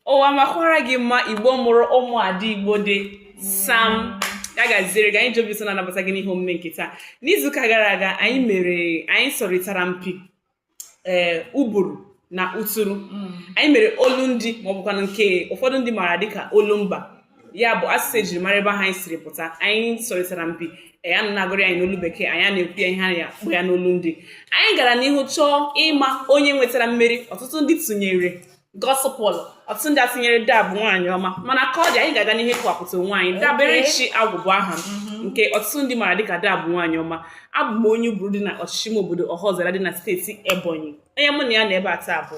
ụwa makwara gị mma igbo mụrụ ụmụ ada igbo dị sam ya gaziere gị anyị ji obi ụsọ na-anabata gị n'ihe omume nke taa n'izuụka gara aga anyị mere anyị sọrịtara mpi ee uburu na uturu anyị mere olu ndị maọbụkwanụ nke ụfọdụ ndị maara dịka olumba ya bụ asụsụ ejiri mara ebe anyị siri pụta anyị sọrịtara mpi a na-agụrụ anyị n'olu bekee anyị na-ekwu ya ihe anyị na-akpọ ya n'olu ndị anyị gara n'ihu chọọ ịma onye nwetara mmeri ọtụtụ ndị tụnyere gospel ọtụtụ ndị atụnyere dab nwaanyị ọma mana ka ọ dị anyị ga-aga n'ihu kọwapụta onwe anyị daberechi agwụ bụ aha m mhm. nke ọtụtụ ndị maara dịka dab nwaanyị ọma abụ m onye uburu dị na ọchịchị ime obodo ọhaọzara dị na steeti ebonyi onye mụ na ya nọ ebe a taa bụ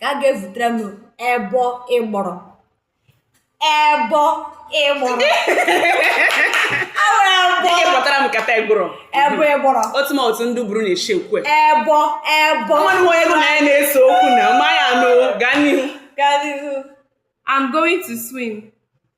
gaa ga-evutere m ebo ịgbọrọ ebo ịgbọrọ Awara ebo Dịka ị kpọtara m nkata ịgbụrụ ebo ịgbọrọ otu ma otu ndị uburu na-eshi ekwu ya ebo ebo nwanne m onye gị na ya na-ese okwu na ma ya anụ gaa n'ihu Gaa n'ihu. I'm going to swim.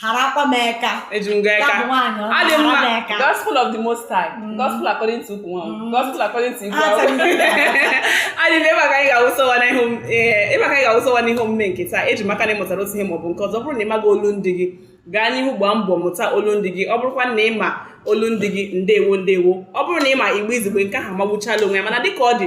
harakwa m eka eji m gaa ya bụ aka nwaanyị ọma adị na-ahara m mma eka gospel of the most high Mm. gospel according to ukwu nwa Mm. gospel according to igwe Ah, thank you. adị m ebe a ka anyị ga-awụsa ọwa n'ihe om- ee, ebe a ka anyị ga-awụsa ọwa n'ihe omume nke taa eji m aka na ị mụtara otu ihe maọbụ nke ọzọ ọ bụrụ na ị maghị olu ndị gị gaa n'ihu gbaa mbọ mụta olu ndị gị ọ bụrụkwa na ị ma olu ndị gị ndewo ndewo ọ bụrụ na ị ma igbo izugbe nke ahụ magbuchala onwe ya mana dịka ọ dị